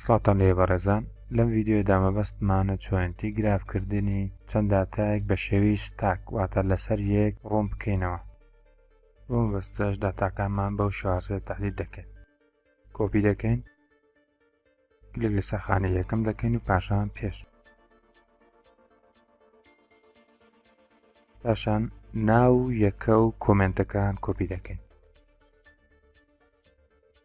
سڵاوتان لێ بەڕێزان لەم ڤیددیۆدا مەبەستمانە چۆنتی گراف کردنی چەند داتایەک بە شێوی ستاک واتە لەسەر یەک ڕوون بکەینەوە بۆ مەبەستەش داتاکانمان بەو شوازێ تحلیل دەکەین کۆپی دەکەین کلێک لەسەر خانە یەکەم دەکەین و پاشان پێست پاشان ناو یەکە و کۆمنتەکان کۆپی دەکەین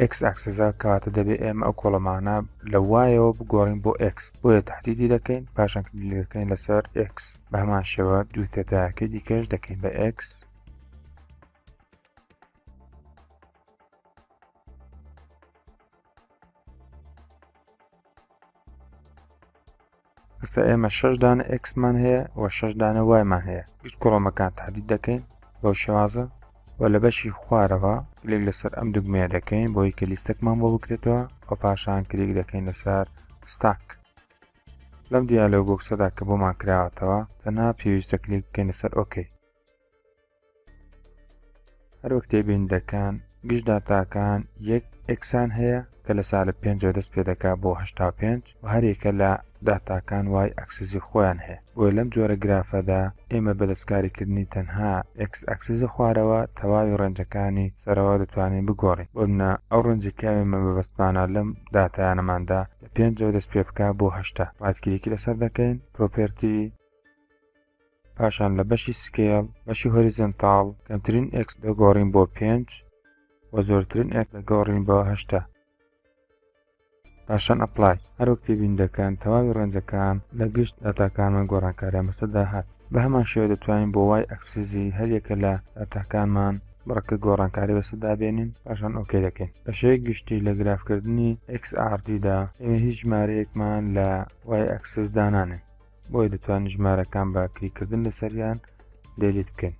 ئێکس ئەکسسە کەواتە دەبێت ئێمە ئەو کۆڵەمانە لە وایەوە بگۆڕین بۆ ئێکس بۆیە تهدیدی دەکەین پاشان کلیلەکەین لەسەر ئێکس بە هەمان شێوە دوو تێتاکەی دیکەش دەکەین بە ئێکس ئستا ئێمە شش دانە ئکسمان هەیە و شش دانە وایمان هەیە گشت کۆڵۆمەکان تادید دەکەین بەو شێوازە و لە بەشی خوارەوە کلێک لەسەر ئەم دوگمەیە دەکەین بۆی کە لیستەکمان بۆ بکرێتەوە و پاشان کلێک دەکەین لەسەر ستاک لەم دیالۆ بۆکسەدا کە بۆمان کراوەتەوە تەنها پێویستە کلێک بکەین لەسەر ئۆکەی هەروەک تێبیندەکان گشت داتاکان یەک ئەکسان هەیە کە لە سالە پێنجەوە دەست پێ دەکا بۆ هشتا پێنج و هەرێکە لە داتاکان وای ئەکسزی خۆیان هەیە بۆی لەم جۆرە گرافەدا ئێمە بەدەستکاریکردنی تەنها ئەکس ئەکسزە خوارەوە تەواوی ڕێنجەکانی سەرەوە دەتوانین بگۆڕین بۆ منە ئەو ڕێنجەکەمە بەبستمانە لەم داتایانەماندا لە پێنجەوە دەست پێ بکە بۆ هشتا ڕاتکیریکی لەسەر دەکەین پرۆپرتی پاشان لە بەشی سکێڵ بەشی هۆریزنتاڵ کەمترین ئکس دەگۆڕین بۆ پێنج و زۆرترین ئەک دەگۆڕین بۆ هەشتا پاشان ئەپلای هەروەک تێبین دەکەن تەواوی ڕەنجەکان لە گشت داتاکانمان گۆڕانکاریان بەسەدا هات بە هەمان شێوە دەتوانین بۆ وای ئەکسزی هەریەکە لە داتاکانمان بڕەکە گۆڕانکاری بەسەدا بێنین پاشان ئۆکێ دەکەین بەشەیە گشتی لە گرافکردنی XRDدا ئێمە هیچ ژمارەیەکمان لە وای ئەکسس دانانێن بۆیە دەتوانن ژمارەکان بە کلیکردن لەسەریان دەلیت بکەن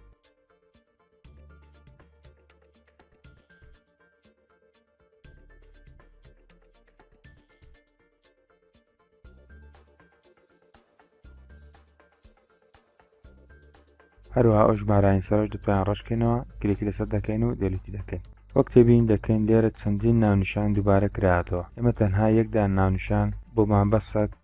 هەروها ئەو ژمارانی سەرش دەتوان ڕشکێنەوە گرێکی لەسەر دەکەین و دەلیتی دەکەین وەک تێبین دەکەین لێرە چەندین ناونیشان دووبارە کراتەوە ئێمە تەنها یەکدان ناونیشان بۆمان بەسە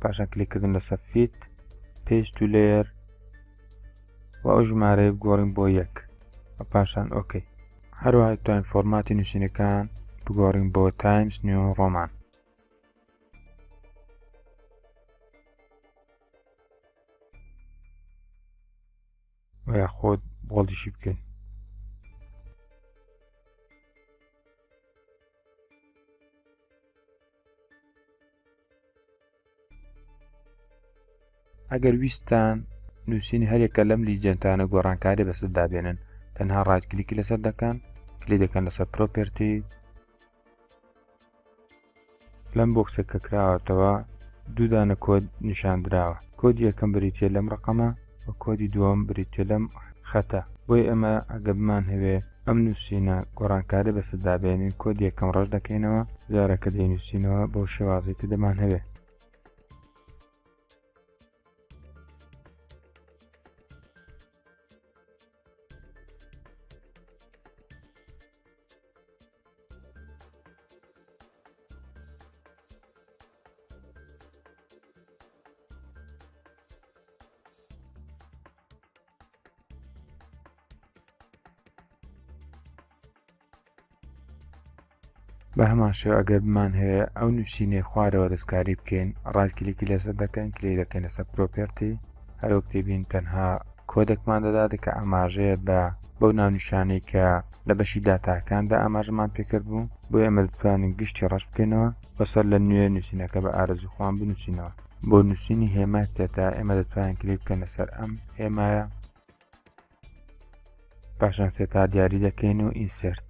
پاشان کلیکردن لەسە فیت پێش تو لێر و ئەو ژمارەیە گۆڕین بۆ یەک و پاشان ئۆکەی هەروەها توانین فۆرماتی نووسینەکان بگۆڕین بۆ تایمز نیو ڕۆمان وە خۆت بۆڵدیشی بکەین ئەگەر ویستان نووسینی هەرێکە لەم لیجنتانە گۆڕانکاری بەسەردا بێنن تەنها ڕایتکلیکی لەسەر دەکەن کلی دەکەن لەسەر پرۆپرتی لەم بۆکسە کە کراوەتەوە دوودانە کۆد نیشاندراوە کۆد یەکەم بریتە لەم ڕقەمە و کۆدی دووەم بریتیە لەم خەتە بۆی ئەمە ئەگە بمان هەوێ ئەم نووسینە گۆڕانکاری بەسەر دابێنین کۆدی یەکەم ڕەش دەکەینەوە جارەکە دەینووسینەوە بۆ شێوازی کە دەمان هەوێ بە هەمان شێو ئەگەر بمان هەیە ئەو نووسینەی خوارەوە دەستکاری بکەین ڕای کلیکی لەسەر دەکەن کلی دەکەین لەسەر پرۆپێرتی هەرۆک تێبین تەنها کۆدەکمان دەدات کە ئاماژەیە بە بەو ناونیشانەی کە لە بەشی داتاکاندا ئاماژەمان پێکرد بوو بۆ ئێمە بتوانین گشتی ڕەش بکەینەوە بەسەر لە نوێ نووسینەکە بە ئارزوخواان بنووسینەوە بۆ نووسینی هێما تێدا ئێمە دەتوانین کلیک بکەنە سەر ئەم هێمایە پاشان تێتا دیاری دەکەین و ئینسرت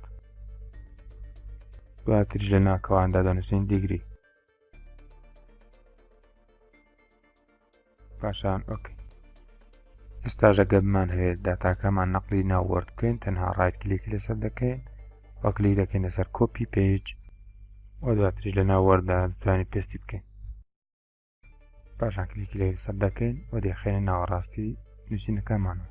دواتریش لە ناکەواندا دەنووسین دیگری پاشان ئۆکی ئێستاش ئەگەر بمانهەوێت داتاکەمان نەقلی ناو وۆرد بکەین تەنها ڕایت کلیکی لەسەر دەکەین و کلیک دەکەین لەسەر کۆپی پێج و دواتریش لە ناو وەردا دەتوانین پێستی بکەین پاشان کلیکی لەسەر دەکەین و دەخێنە ناوەڕاستی نووسینەکەمانەوە